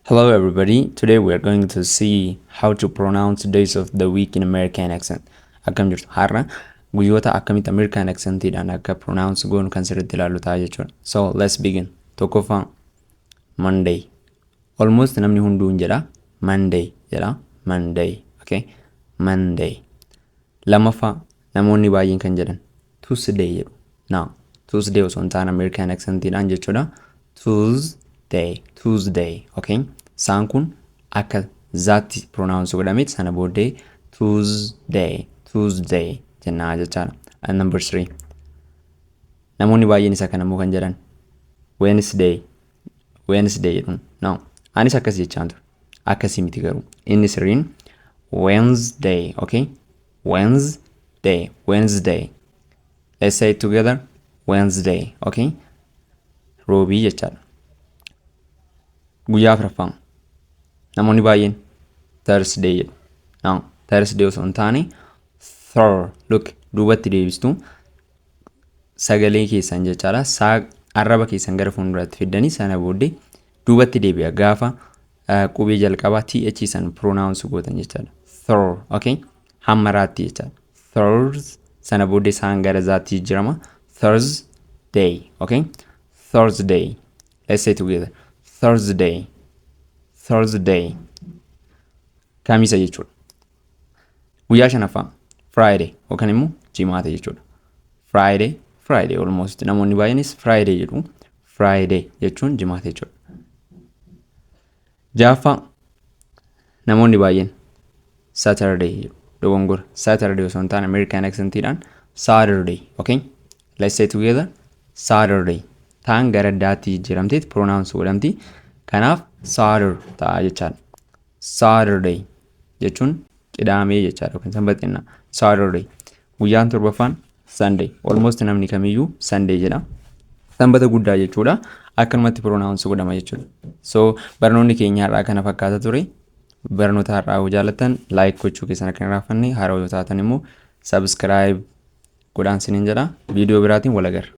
Hello everybody, today we are going to see how to pronounce days of the week in American accent. Akkam jirtu har'a guyyoota akkamitti American accentidhaan akka pronounce goonu kan sirriitti ilaallu ta'a jechuudha. So let's begin. Tokkoffaa Monday. Almost namni hunduu hin jedha. Monday jedha. Monday. Okay. Monday. Lammaffaa, namoonni baay'een kan jedhan, Tuusdey jedhu. Now, Tuusdey osoo hin taane American accent dhaan jechuudha. Tuusdey, Tuusdey, okay? Saan kun akka zaatti pronounce godhameet sana booddee Tuusdey, Tuusdey jennaa jechaadha. And number three, namoonni baay'een isa kanammoo kan jedhan, Wednesday, Wednesday jedhu. No. Anis akkas jechaan ture. Akkasii miti garuu. Inni sirriin Wednesday. Okay. Wednesday. Wednesday. Let's say it together. Wednesday. Okay. Roobii jechaadha. Guyyaa afraffaa. Namoonni baay'een Thursday jedhu. No. Thursday osoo hin taane Thur. Look. Duubatti deebistu. sagalee keessan jechaadha saa arraba keessan gara fuulduraatti fiddanii sana booddee duubatti deebi'a gaafa eh, qubee jalqabaa th san pronounce gootan jechaadha thor okay hamma raatti jechaadha thors sana booddee saan gara zaatti jijjirama thursday okay thursday let's say together thursday thursday kamisa jechuudha Guyyaa shanaffaa Friday yookaan immoo jimaata jechuudha. Friday Friday almost namoonni baay'eenis Friday jedhu. Friday jechuun jimaata jechuudha. Jaaffaa namoonni baay'een Saturday jedhu. Dogongora Saturday osoo hin taane American accentidhaan Saturday okay. Let's say together Saturday taan gara daatti jijjiiramteet pronounce godhamti. Kanaaf Saturday ta'a jechaadha. Saturday jechuun qidaamee jechaadha yookiin sanbata jenna. Saturday. Guyyaan torbaffaan Sunday. Almost namni kamiyyuu Sunday jedha. Sanbata guddaa jechuudha. Akkanumatti pronounce godhama jechuudha. So barnoonni keenya har'aa kana fakkaata ture. Barnoota har'aa yoo jaallattan like gochuu keessan akka hin raaffanne haaraa yoo taatan immoo subscribe godhaan sinin jedha. Viidiyoo biraatiin wal agarra.